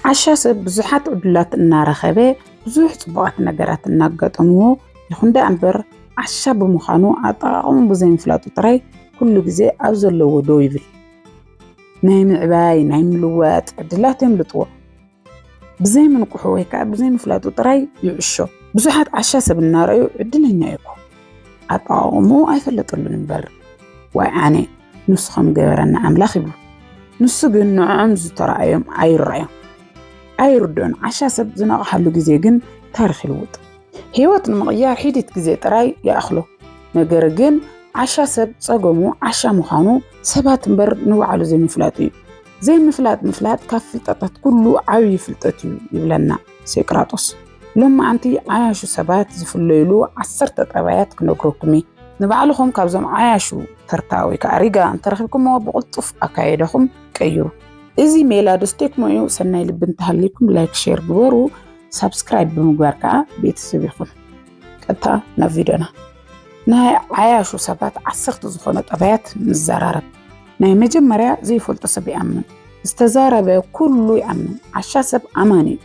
ዓሻ ሰብ ብዙሓት ዕድላት እናረኸበ ብዙሕ ፅቡቓት ነገራት እናጋጠምዎ ይኹን ደኣ እምበር ዓሻ ብምዃኑ ኣጠቓቕሙ ብዘይምፍላጡ ጥራይ ኩሉ ግዜ ኣብ ዘለዎ ደው ይብል። ናይ ምዕባይ ናይ ምልዋጥ ዕድላት የምልጥዎ ብዘይምንቁሑ ወይ ከዓ ብዘይምፍላጡ ጥራይ ይዕሾ ብዙሓት ዓሻ ሰብ እናረኣዩ ዕድለኛ ይኮ ኣጠቓቕሙ ኣይፈለጠሉን እምበር ዋይ ኣነ ንሱ ከም ገበረና ኣምላኽ ይብሉ። ንሱ ግን ንዕኦም ዝተረኣዮም ኣይረኣዮም ኣይርድኦን። ዓሻ ሰብ ዝነቕሓሉ ግዜ ግን ታሪኽ ይልውጥ። ህይወት ንምቕያር ሒዲት ግዜ ጥራይ ይኣኽሎ። ነገር ግን ዓሻ ሰብ ጸገሙ ዓሻ ምዃኑ ሰባት እምበር ንባዕሉ ዘይምፍላጡ እዩ። ዘይምፍላጥ ምፍላጥ ካብ ፍልጠታት ኩሉ ዓብዪ ፍልጠት እዩ ይብለና። ሴቅራጦስ ሎማዓንቲ ዓያሹ ሰባት ዝፍለዩሉ ዓሰርተ ጠባያት ክነግረኩም እየ። ንባዕልኹም ካብዞም ዓያሹ ተርታ ወይ ከዓ ሪጋ እንተረኺብኩምዎ ብቕልጡፍ ኣካያይዳኹም ቀይሩ። እዚ ሜላ ዶ ስቴክሞ እዩ? ሰናይ ልቢ እንተሃልይኩም ላይክ ሼር ግበሩ፣ ሳብስክራይብ ብምግባር ከዓ ቤተሰብ ይኹን። ቀጥታ ናብ ቪድዮና ናይ ዓያሹ ሰባት ዓሰርተ ዝኾነ ጠባያት ንዘራረብ። ናይ መጀመርያ ዘይፈልጦ ሰብ ይኣምን ዝተዛረበ ኩሉ ይኣምን ዓሻ ሰብ ኣማኒ እዩ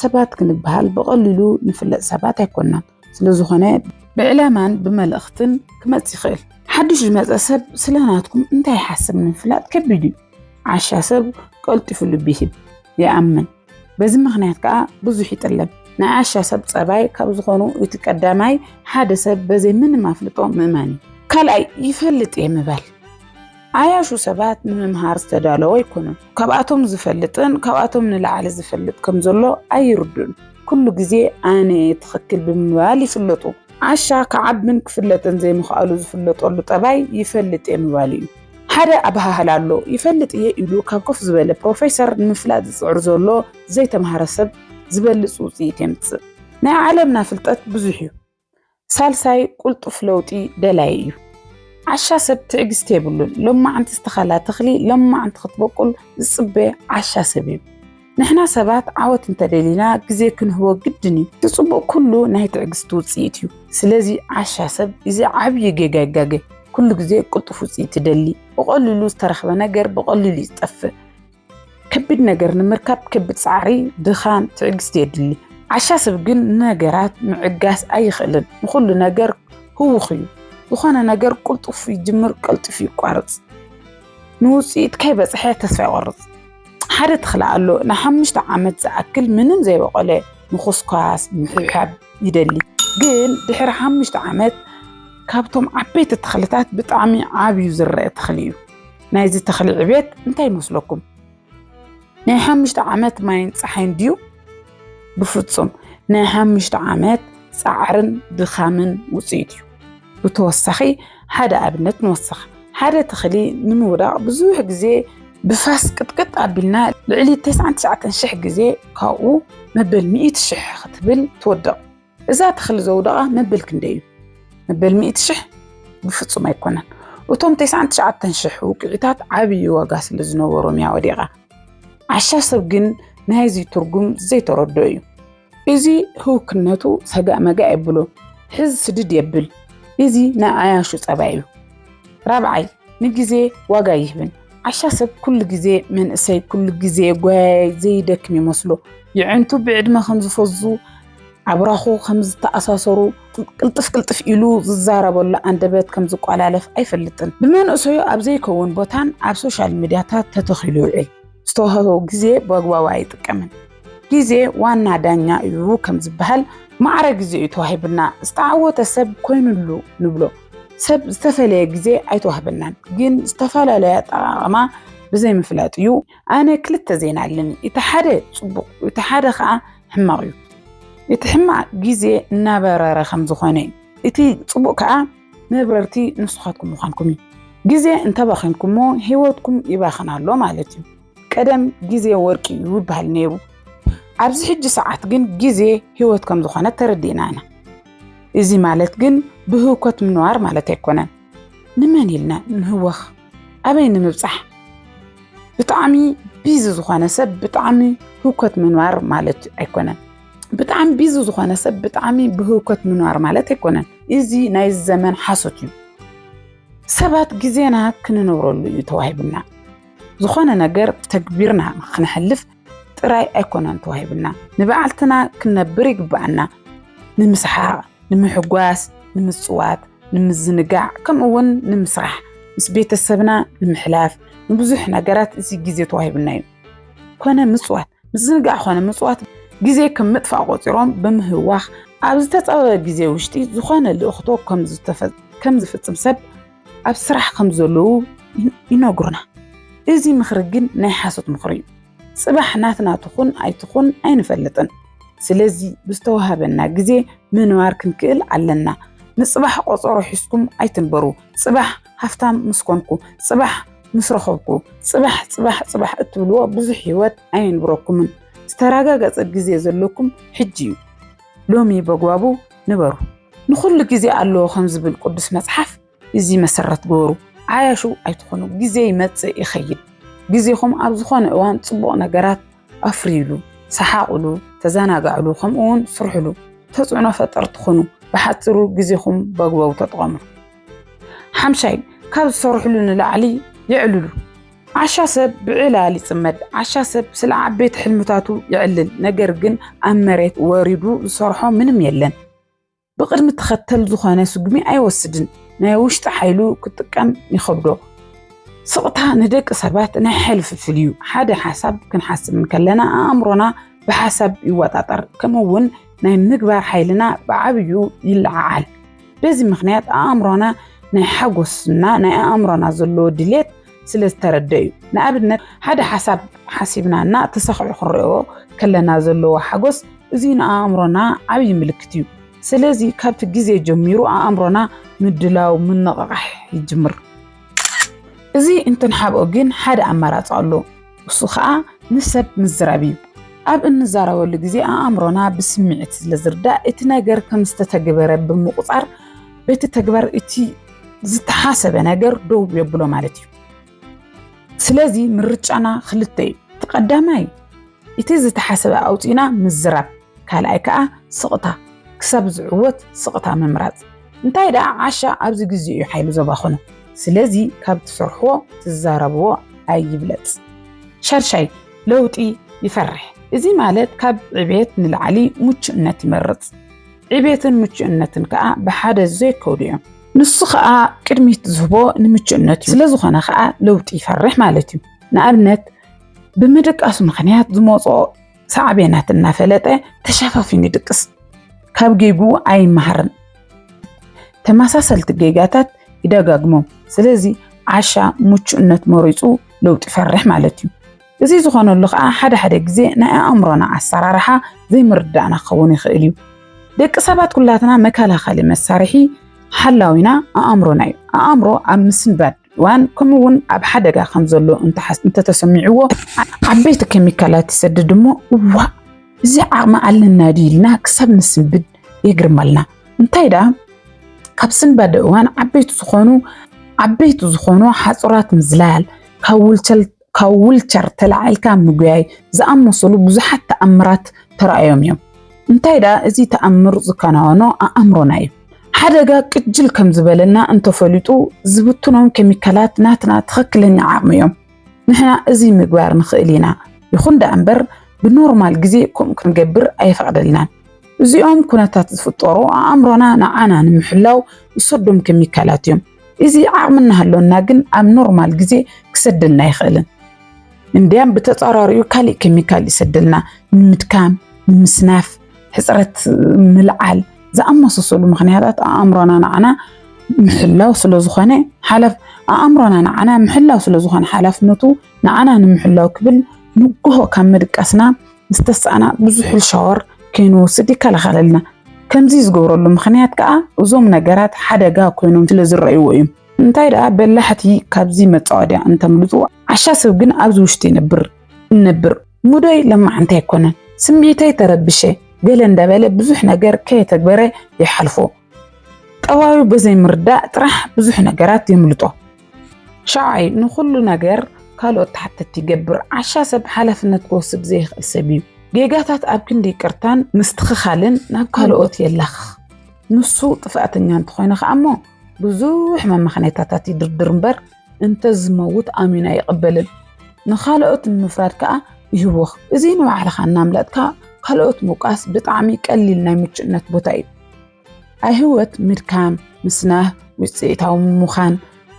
ሰባት ክንበሃል ብቐሊሉ ንፍለጥ ሰባት ኣይኮናን ስለዝኾነ ብዕላማን ብመልእኽትን ክመፅ ይኽእል ሓድሽ ዝመፀ ሰብ ስለናትኩም እንታይ ይሓስብ ንምፍላጥ ከቢድ እዩ ዓሻ ሰብ ቀልጢፉ ልቢ ይህብ ይኣምን በዚ ምክንያት ከዓ ብዙሕ ይጥለም። ናይ ዓሻ ሰብ ፀባይ ካብ ዝኾኑ እቲ ቀዳማይ ሓደ ሰብ በዘይ ምንም ኣፍልጦ ምእማን እዩ። ካልኣይ ይፈልጥ እየ ምባል ዓያሹ ሰባት ንምምሃር ዝተዳለዉ ኣይኮኑን። ካብኣቶም ዝፈልጥን ካብኣቶም ንላዕሊ ዝፈልጥ ከም ዘሎ ኣይርዱን። ኩሉ ግዜ ኣነ እየ ትኽክል ብምባል ይፍለጡ። ዓሻ ክዓብን ክፍለጥን ዘይምኽኣሉ ዝፍለጠሉ ጠባይ ይፈልጥ እየ ምባል እዩ። ሓደ ኣበሃህላ ኣሎ፣ ይፈልጥ እየ ኢሉ ካብ ኮፍ ዝበለ ፕሮፌሰር ንምፍላጥ ዝጽዕር ዘሎ ዘይተማህረ ሰብ ዝበልጽ ውጽኢት የምጽእ። ናይ ዓለምና ፍልጠት ብዙሕ እዩ። ሳልሳይ ቁልጡፍ ለውጢ ደላይ እዩ። ዓሻ ሰብ ትዕግስቲ የብሉን። ሎማዕንቲ ዝተኸላ ተኽሊ ሎማዕንቲ ክትበቁል ዝጽበ ዓሻ ሰብ እዩ። ንሕና ሰባት ዓወት እንተደሊና ግዜ ክንህቦ ግድን እዩ። እቲ ጽቡቅ ኩሉ ናይ ትዕግስቲ ውጽኢት እዩ። ስለዚ ዓሻ ሰብ እዚ ዓብይ ጌጋ ይጋገ ኩሉ ግዜ ቅልጡፍ ውጽኢት ይደሊ። ብቀሊሉ ዝተረኽበ ነገር ብቀሊሉ እዩ ዝጠፍእ። ከቢድ ነገር ንምርካብ ከቢድ ጻዕሪ፣ ድኻም፣ ትዕግስቲ የድሊ። ዓሻ ሰብ ግን ንነገራት ምዕጋስ ኣይኽእልን። ንኹሉ ነገር ህውኽ እዩ። ዝኾነ ነገር ቅልጡፍ ይጅምር ቀልጢፉ ይቋርጽ። ንውጽኢት ከይበጽሐ ተስፋ ይቆርጽ። ሓደ ተኽሊ ኣሎ ንሓሙሽተ ዓመት ዝኣክል ምንም ዘይበቆለ ምኹስኳስ ምሕብሓብ ይደሊ ግን ድሕሪ ሓሙሽተ ዓመት ካብቶም ዓበይቲ ተኽልታት ብጣዕሚ ዓብዩ ዝረአ ተኽሊ እዩ ናይዚ ተኽሊ ዕቤት እንታይ ይመስለኩም ናይ ሓሙሽተ ዓመት ማይን ፀሓይን ድዩ ብፍጹም ናይ ሓሙሽተ ዓመት ጻዕርን ድኻምን ውጽኢት እዩ። ብተወሳኺ ሓደ ኣብነት ንወስኽ። ሓደ ተኽሊ ንምውዳቕ ብዙሕ ግዜ ብፋስ ቅጥቅጥ ኣቢልና ልዕሊ 99 ሽሕ ግዜ ካብኡ መበል ሚእቲ ሽሕ ክትብል ትወድቕ። እዛ ተኽሊ ዘውደቓ መበል ክንደይ እዩ? መበል ሚእቲ ሽሕ? ብፍጹም ኣይኮነን። እቶም ተስዓን ትሽዓተን ሽሕ ውቅዒታት ዓብዪ ዋጋ ስለ ዝነበሮም እያ ወዲቓ። ዓሻ ሰብ ግን ናይዚ ትርጉም ዘይተረድኦ እዩ። እዚ ህውክነቱ ሰጋእ መጋእ የብሎ፣ ሕዝ ስድድ የብል። እዚ ናይ ዓያሹ ጸባይ እዩ። ራብዓይ፣ ንግዜ ዋጋ ኣይህብን። ዓሻ ሰብ ኩሉ ግዜ መንእሰይ፣ ኩሉ ግዜ ጓያያይ፣ ዘይደክም ይመስሎ። የዒንቱ ብዕድመ ከም ዝፈዙ ኣብራኹ ከም ዝተኣሳሰሩ ቅልጥፍ ቅልጥፍ ኢሉ ዝዛረበሉ ኣንደበት ከም ዝቋላለፍ ኣይፈልጥን። ብመንእሰዩ ኣብ ዘይከውን ቦታን ኣብ ሶሻል ሚድያታት ተተኺሉ ይውዕል። ዝተዋህቦ ግዜ ብኣግባቡ ኣይጥቀምን። ግዜ ዋና ዳኛ እዩ ከም ዝበሃል ማዕረ ግዜ እዩ ተዋሂቡና። ዝተዓወተ ሰብ ኮይኑሉ ንብሎ። ሰብ ዝተፈለየ ግዜ ኣይተዋህበናን፣ ግን ዝተፈላለየ ኣጠቓቕማ ብዘይምፍላጥ እዩ። ኣነ ክልተ ዜና ኣለኒ እቲ ሓደ ፅቡቅ እቲ ሓደ ከዓ ሕማቅ እዩ እቲ ሕማቅ ግዜ እናበረረ ከም ዝኾነ እዩ እቲ ፅቡቅ ከዓ መብረርቲ ንስኻትኩም ምዃንኩም እዩ ግዜ እንተባኺንኩሞ ሂወትኩም ይባኽን ኣሎ ማለት እዩ ቀደም ግዜ ወርቂ እዩ ይበሃል ነይሩ ኣብዚ ሕጂ ሰዓት ግን ግዜ ሂወት ከም ዝኾነ ተረዲእና ኢና እዚ ማለት ግን ብህውከት ምንባር ማለት ኣይኮነን ንመን ኢልና ንህወኽ ኣበይ ንምብጻሕ ብጣዕሚ ቢዚ ዝኾነ ሰብ ብጣዕሚ ህውከት ምንባር ማለት ኣይኮነን ብጣዕሚ ቢዚ ዝኾነ ሰብ ብጣዕሚ ብህውከት ምንባር ማለት ኣይኮነን እዚ ናይ ዘመን ሓሶት እዩ ሰባት ግዜና ክንነብረሉ እዩ ተዋሂብና ዝኾነ ነገር ተግቢርና ክንሕልፍ ጥራይ ኣይኮነን ተዋሂብና ንበዓልትና ክንነብር ይግባኣና ንምስሓቕ ንምሕጓስ ንምፅዋት ንምዝንጋዕ ከምኡ እውን ንምስራሕ ምስ ቤተሰብና ንምሕላፍ ንብዙሕ ነገራት እዚ ግዜ ተዋሂብና እዩ ኮነ ምፅዋት ምዝንጋዕ ኮነ ምፅዋት ግዜ ከም ምጥፋእ ቆፂሮም ብምህዋኽ ኣብ ዝተፀበበ ግዜ ውሽጢ ዝኾነ ልእኽቶ ከም ዝፍፅም ሰብ ኣብ ስራሕ ከም ዘለዉ ይነግሩና። እዚ ምኽሪ ግን ናይ ሓሶት ምኽሪ እዩ። ጽባሕ ናትና ትኹን ኣይትኹን ኣይንፈልጥን። ስለዚ ብዝተዋሃበና ግዜ ምንባር ክንክእል ኣለና። ንጽባሕ ቆጸሮ ሒዝኩም ኣይትንበሩ። ጽባሕ ሃፍታም ምስ ኮንኩ፣ ጽባሕ ምስ ረኸብኩ፣ ጽባሕ ጽባሕ ጽባሕ እትብልዎ ብዙሕ ህይወት ኣየንብረኩምን። ዝተረጋገጸ ግዜ ዘለኩም ሕጂ እዩ። ሎሚ በጓቡ ንበሩ ንኹሉ ግዜ ኣለዎ ከም ዝብል ቅዱስ መጽሓፍ እዚ መሰረት ግበሩ። ዓያሹ ኣይትኾኑ፣ ግዜ ይመጽእ ይኸይድ። ግዜኹም ኣብ ዝኾነ እዋን ጽቡቕ ነገራት ኣፍርዩሉ፣ ሰሓቑሉ፣ ተዘናጋዕሉ፣ ከምኡውን ስርሕሉ፣ ተጽዕኖ ፈጠርቲ ኹኑ። ብሓጽሩ ግዜኹም በግበቡ ተጠቐምሉ። ሓምሻይ ካብ ዝሰርሕሉ ንላዕሊ የዕልሉ። ዓሻ ሰብ ብዕላል ይፅመድ። ዓሻ ሰብ ስለ ዓበይቲ ሕልምታቱ የዕልል፣ ነገር ግን ኣብ መሬት ወሪዱ ዝሰርሖ ምንም የለን። ብቅድሚ ተኸተል ዝኾነ ስጉሚ ኣይወስድን፣ ናይ ውሽጢ ሓይሉ ክጥቀም ይኸብዶ። ስቕታ ንደቂ ሰባት ናይ ሓይሊ ፍልፍል እዩ። ሓደ ሓሳብ ክንሓስብ እንከለና ኣእምሮና ብሓሳብ ይወጣጠር፣ ከምኡ እውን ናይ ምግባር ሓይልና ብዓብዩ ይለዓዓል። በዚ ምክንያት ኣእምሮና ናይ ሓጎስና ናይ ኣእምሮና ዘለዎ ድሌት ስለ ዝተረደዩ ንኣብነት ሓደ ሓሳብ ሓሲብና እና ተሰኺዑ ክንሪኦ ከለና ዘለዎ ሓጎስ እዚ ንኣእምሮና ዓብዪ ምልክት እዩ። ስለዚ ካብቲ ግዜ ጀሚሩ ኣእምሮና ምድላው ምንቕቓሕ ይጅምር። እዚ እንትንሓብኦ ግን ሓደ ኣማራፂ ኣሎ። እሱ ከዓ ምስ ሰብ ምዝራብ እዩ። ኣብ እንዛረበሉ ግዜ ኣእምሮና ብስምዒት ስለ ዝርዳእ እቲ ነገር ከም ዝተተግበረ ብምቑፃር በቲ ተግባር እቲ ዝተሓሰበ ነገር ደው የብሎ ማለት እዩ። ስለዚ ምርጫና ክልተ እዩ። እቲ ቀዳማይ እቲ ዝተሓሰበ ኣውፂና ምዝራብ፣ ካልኣይ ከዓ ስቕታ ክሳብ ዝዕወት ስቕታ ምምራፅ። እንታይ ደኣ ዓሻ ኣብዚ ግዜ እዩ ሓይሉ ዘባኽኖ። ስለዚ ካብ ትሰርሕዎ ትዛረብዎ ኣይብለፅ። ሻድሻይ ለውጢ ይፈርሕ። እዚ ማለት ካብ ዕቤት ንላዕሊ ሙቹእነት ይመርፅ። ዕቤትን ምቹእነትን ከኣ ብሓደ ዘይከዱ እዮም። ንሱ ከኣ ቅድሚት ዝህቦ ንምቹእነት እዩ። ስለዝኾነ ከኣ ለውጢ ይፈርሕ ማለት እዩ። ንኣብነት ብምድቃሱ ምኽንያት ዝመፅኦ ሳዕቤናት እናፈለጠ ተሸፋፊኑ ይድቅስ። ካብ ጌግኡ ኣይመሃርን። ተመሳሰልቲ ጌጋታት ይደጋግሞም። ስለዚ ዓሻ ምቹእነት መሪፁ ለውጢ ይፈርሕ ማለት እዩ። እዚ ዝኾነሉ ከኣ ሓደ ሓደ ግዜ ናይ ኣእምሮና ኣሰራርሓ ዘይምርዳእና ክኸውን ይኽእል እዩ። ደቂ ሰባት ኩላትና መከላኸሊ መሳርሒ ሓላዊና ኣእምሮና እዩ። ኣእምሮ ኣብ ምስንባድ እዋን ከምኡ እውን ኣብ ሓደጋ ከም ዘሎ እንተተሰሚዕዎ ዓበይቲ ኬሚካላት ይሰድድ እሞ እዋእ እዚ ዓቕሚ ኣለና ድዩ ኢልና ክሳብ ንስንብድ የግርመልና። እንታይ ደኣ ካብ ስንባደ እዋን ዓበይቲ ዝኾኑ ዓበይቲ ዝኾኑ ሓፁራት ምዝላል፣ ካብ ውልቸር ተላዒልካ ምጉያይ ዝኣመሰሉ ብዙሓት ተኣምራት ተራእዮም እዮም። እንታይ ደኣ እዚ ተኣምር ዝከናወኖ ኣእምሮና እዩ። ሓደጋ ቅጅል ከም ዝበለና እንተፈሊጡ ዝብትኖም ኬሚካላት ናትና ትኽክለኛ ዓቕሚ እዮም። ንሕና እዚ ምግባር ንኽእል ኢና፣ ይኹን ደኣ እምበር ብኖርማል ግዜ ከምኡ ክንገብር ኣይፈቕደልናን። እዚኦም ኩነታት ዝፍጠሩ ኣእምሮና ንዓና ንምሕላው ዝሰዶም ኬሚካላት እዮም። እዚ ዓቕሚ እናሃለወና ግን ኣብ ኖርማል ግዜ ክሰደልና ኣይኽእልን። እንዲያም ብተፃራሪኡ ካሊእ ኬሚካል ይሰደልና ንምድካም፣ ንምስናፍ፣ ሕፅረት ምልዓል ዝኣመሳሰሉ ምኽንያታት ኣእምሮና ንዓና ምሕላው ስለዝኾነ ሓላፍ ኣእምሮና ንዓና ምሕላው ስለዝኾነ ሓላፍነቱ ንዓና ንምሕላው ክብል ንግሆ ካብ ምድቃስና ምስ ተሳእና ብዝሑል ሻወር ከይንወስድ ይከላኸለልና። ከምዚ ዝገብረሉ ምኽንያት ከኣ እዞም ነገራት ሓደጋ ኮይኖም ስለ ዝረኣይዎ እዩ። እንታይ ደኣ በላሕቲ ካብዚ መጻወድያ እንተምልጡ፣ ዓሻ ሰብ ግን ኣብዚ ውሽጢ ይነብር እነብር። ሙደይ ለማዓንቲ ኣይኮነን፣ ስምዒተይ ተረቢሸ ገለ እንዳበለ ብዙሕ ነገር ከየተግበረ ይሓልፎ። ጠባዩ ብዘይምርዳእ ጥራሕ ብዙሕ ነገራት የምልጦ። ሻውዓይ ንኹሉ ነገር ካልኦት ተሓተቲ ይገብር። ዓሻ ሰብ ሓላፍነት ክወስድ ዘይኽእል ሰብ እዩ። ጌጋታት ኣብ ክንዲ ይቅርታን ምስትኽኻልን ናብ ካልኦት የላኽኽ። ንሱ ጥፍኣተኛ እንተኾይነ ከዓ እሞ ብዙሕ መመኽነይታታት ይድርድር እምበር እንተዝመውት ኣሚኑ ኣይቕበልን። ንኻልኦት ንምፍራድ ከዓ ይህወኽ። እዚ ንባዕልኻ እናምለጥካ ካልኦት ምውቃስ ብጣዕሚ ቀሊል ናይ ምቹእነት ቦታ እዩ። ኣብ ህይወት ምድካም፣ ምስናህ፣ ውፅኢታዊ ምዃን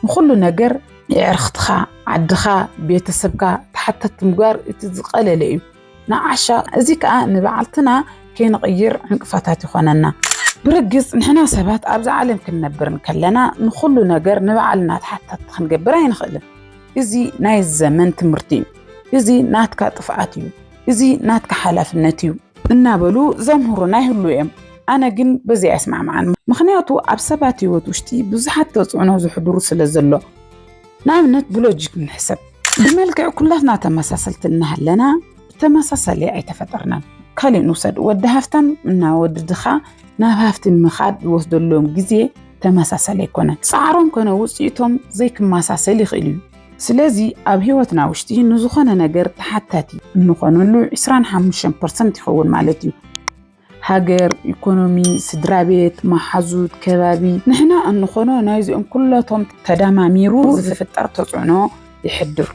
ንኹሉ ነገር የዕርኽትኻ፣ ዓድኻ፣ ቤተሰብካ ተሓተቲ ምግባር እቲ ዝቐለለ እዩ። ንዓሻ እዚ ከዓ ንባዕልትና ከይንቕይር ዕንቅፋታት ይኾነና። ብርግፅ ንሕና ሰባት ኣብዚ ዓለም ክንነብር እንከለና ንኹሉ ነገር ንባዕልና ተሓታቲ ክንገብር ኣይንኽእልን። እዚ ናይ ዘመን ትምህርቲ እዩ። እዚ ናትካ ጥፍኣት እዩ። እዚ ናትካ ሓላፍነት እዩ። እናበሉ ዘምህሩና ይህሉ እዮም። ኣነ ግን በዚ ኣይስማዕማዕን፣ ምኽንያቱ ኣብ ሰባት ህይወት ውሽጢ ብዙሓት ተፅዕኖ ዘሕድሩ ስለ ዘሎ። ንኣብነት ብሎጂክ ንሕሰብ፣ ብመልክዕ ኩላትና ተመሳሰልቲ እናሃለና ብተመሳሳሊ ኣይተፈጠርናን። ካሊእ ንውሰድ፣ ወዲ ሃፍታም እና ወዲ ድኻ ናብ ሃፍቲ ንምኻድ ዝወስደሎም ግዜ ተመሳሳሊ ኣይኮነን። ፃዕሮም ኮነ ውፅኢቶም ዘይክመሳሰል ይኽእል እዩ። ስለዚ ኣብ ህይወትና ውሽጢ ንዝኾነ ነገር ተሓታቲ እንኾነሉ ዕስራን ሓሙሽተን ፐርሰንት ይኸውን ማለት እዩ። ሃገር፣ ኢኮኖሚ፣ ስድራ ቤት፣ መሓዙት፣ ከባቢ ንሕና እንኾኖ ናይዚኦም ኩለቶም ተዳማሚሩ ዝፍጠር ተፅዕኖ ይሕድር።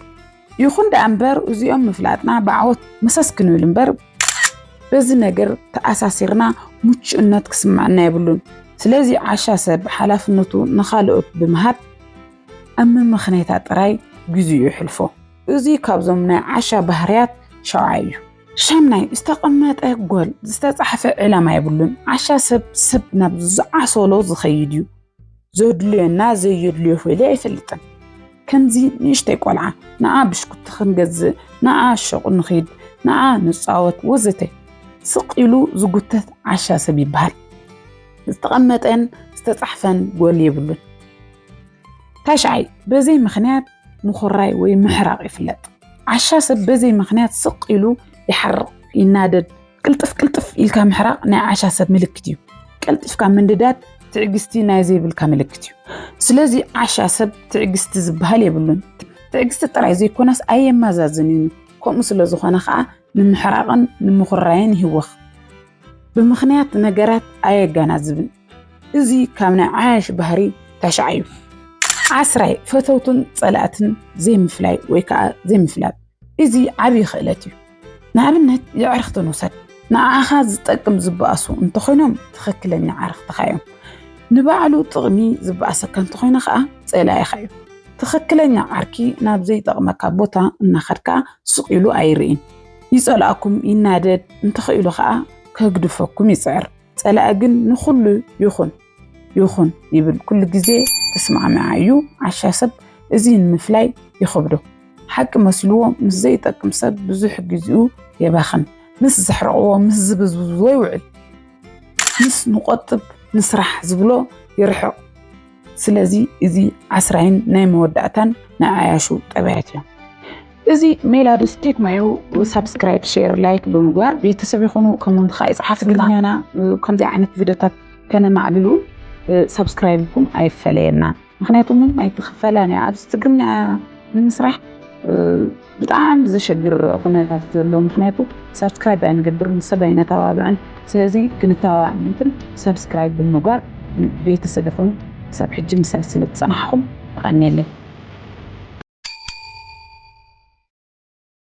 ይኹን ደኣ እምበር እዚኦም ምፍላጥና ብዓወት መሰስ ክንብል እምበር በዚ ነገር ተኣሳሲርና ሙቹእነት ክስመዐና የብሉን። ስለዚ ዓሻ ሰብ ሓላፍነቱ ንኻልኦት ብምሃብ ኣብ ምምኽኔታ ጥራይ ግዜኡ የሕልፎ። እዚ ካብዞም ናይ ዓሻ ባህርያት ሻውዓይ እዩ። ሻምናይ፣ ዝተቐመጠ ጎል፣ ዝተጻሕፈ ዕላማ የብሉን። ዓሻ ሰብ ሰብ ናብ ዝዓሰሎ ዝኸይድ እዩ። ዘድልዮና ዘየድልዮ ፈልዩ ኣይፈልጥን። ከምዚ ንእሽተይ ቆልዓ፣ ንዓ ብሽኩቲ ክንገዝእ፣ ንዓ ሹቕ ንኺድ፣ ንዓ ንጻወት ወዘተ ስቕ ኢሉ ዝጉተት ዓሻ ሰብ ይበሃል። ዝተቐመጠን ዝተጻሕፈን ጎል የብሉን። ታሽዓይ በዘይ ምኽንያት ምኹራይ ወይ ምሕራቕ ይፍለጥ። ዓሻ ሰብ በዘይ ምኽንያት ስቕ ኢሉ ይሓርቕ፣ ይናደድ። ቅልጥፍ ቅልጥፍ ኢልካ ምሕራቕ ናይ ዓሻ ሰብ ምልክት እዩ። ቀልጢፍካ ምንድዳድ ትዕግስቲ ናይ ዘይብልካ ምልክት እዩ። ስለዚ ዓሻ ሰብ ትዕግስቲ ዝበሃል የብሉን። ትዕግስቲ ጥራይ ዘይኮነስ ኣየመዛዝንን እዩ። ከምኡ ስለ ዝኾነ ከዓ ንምሕራቕን ንምኹራይን ይህወኽ። ብምኽንያት ነገራት ኣየገናዝብን። እዚ ካብ ናይ ዓያሽ ባህሪ ታሽዓ እዩ። ዓስራይ ፈተውትን ጸላእትን ዘይምፍላይ ወይ ከዓ ዘይምፍላጥ እዚ ዓብዪ ክእለት እዩ። ንኣብነት የዕርኽቲ ንውሰድ። ንዓኻ ዝጠቅም ዝበኣሱ እንተኾይኖም ትኽክለኛ ዓርኽትኻ እዮም። ንባዕሉ ጥቕሚ ዝበኣሰካ እንተኾይነ ከዓ ጸላኢኻ እዩ። ትኽክለኛ ዓርኪ ናብ ዘይጠቕመካ ቦታ እናኸድካ ስቕ ኢሉ ኣይርኢን። ይጸልኣኩም፣ ይናደድ፣ እንተኽኢሉ ከዓ ከግድፈኩም ይጽዕር። ጸላኢ ግን ንኹሉ ይኹን ይኹን ይብል ኩሉ ግዜ ተስማዕምዓ እዩ ዓሻ ሰብ እዚ ንምፍላይ ይኸብዶ ሓቂ መስልዎ ምስ ዘይጠቅም ሰብ ብዙሕ ግዜኡ የባኽን ምስ ዘሕረቕዎ ምስ ዝብዝብዝዎ ይውዕል ምስ ንቆጥብ ንስራሕ ዝብሎ ይርሕቕ ስለዚ እዚ ዓስራይን ናይ መወዳእታን ናይ ዓያሹ ጠባያት እዮም። እዚ ሜላዱስ ቴክ ማዮ ሳብስክራይብ ሼር ላይክ ብምግባር ቤተሰብ ይኹኑ ከምኡውን ከዓ ይፅሓፍ ትግርኛና ከምዚ ዓይነት ቪድዮታት ከነማዕልሉ ሳብስክራይብኩም ኣይፈለየና ምክንያቱ ምንም ኣይትኽፈላን እያ ኣብዚ ትግርኛ ንምስራሕ ብጣዕሚ ዘሸግር ኩነታት ዘሎ ምክንያቱ ሳብስክራይብ ኣይንገብርን ሰብ ኣይነተባብዕን ስለዚ ክንተባባዕ ምእንትን ሳብስክራይብ ብምግባር ቤተሰብ ኩኑ ክሳብ ሕጂ ምሳይ ስለ ዝጸናሕኩም የቀንየለይ።